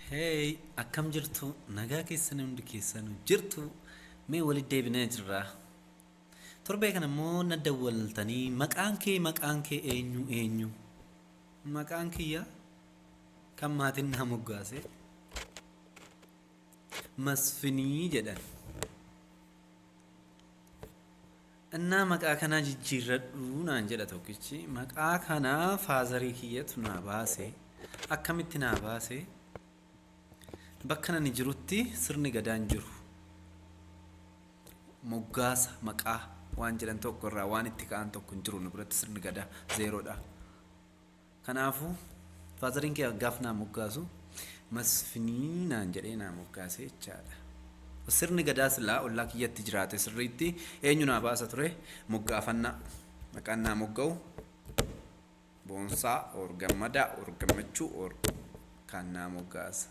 Hey, akkam jirtu? Nagaa keessan hundi keessan jirtu? Mee walitti deebinee jirra. Torbee kana immoo na dawwaltanii maqaan kee maqaan kee eenyu eenyu? Maqaan kiyya kan maatiin naa moggaase Masfinii jedhan. Ennaa maqaa kanaa jijjiirradhu naan jedha tokkichi. Maqaa kana faazarii kiyyatu naa baase. Akkamitti naa baase? Bakka nani jirutti sirni gadaa hin jiru. Moggaasa maqaa waan jedhan tokko irraa waan itti ka'an tokko hin jiru nu biratti sirni gadaa zeeroodha. Kanaafuu faazariin kee gaaf naa moggaasu masfinii naan jedhee naa moggaasee jechaadha. Sirni gadaa silaa ollaa kiyyatti jiraate sirriitti eenyu naa baasa ture moggaafannaa maqaan naa mogga'u boonsaa or gammadaa or gammachuu or kaan naa moggaasa.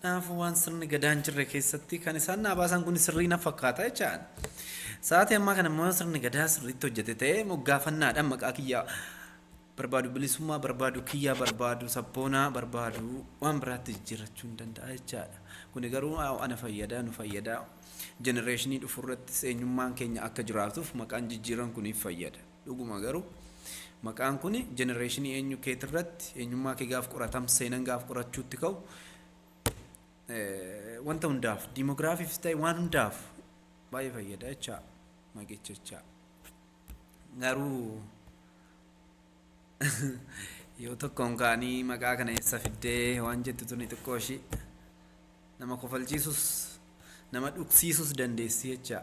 Kanaafuu waan sirni gadaa hin jirre keessatti kan isaan naa baasan kun sirrii na fakkaata jechaan. Sa'aatii ammaa kana immoo sirni gadaa sirriitti hojjete ta'ee moggaafannaadhaan maqaa kiyyaa barbaadu bilisummaa barbaadu kiyyaa barbaadu sabboonaa barbaadu waan biraatti jijjiirrachuu hin danda'a jechaadha. Kuni garuu ana fayyada nu fayyada jenereeshinii dhufu irrattis eenyummaan keenya akka jiraatuuf maqaan jijjiiran kuniif fayyada. Dhuguma garuu maqaan kun jenereeshinii eenyu keetirratti eenyummaa kee gaaf qoratam seenan gaaf qorachuutti ka'u wanta hundaaf diimogiraafiifis ta'e waan hundaaf baay'ee fayyada jechaa maqicha jechaa garuu yoo tokkoon kaanii maqaa kana eessa fiddee waan jettu tuni xiqqoo ishii nama kofalchiisus nama dhugsiisus dandeessi jechaa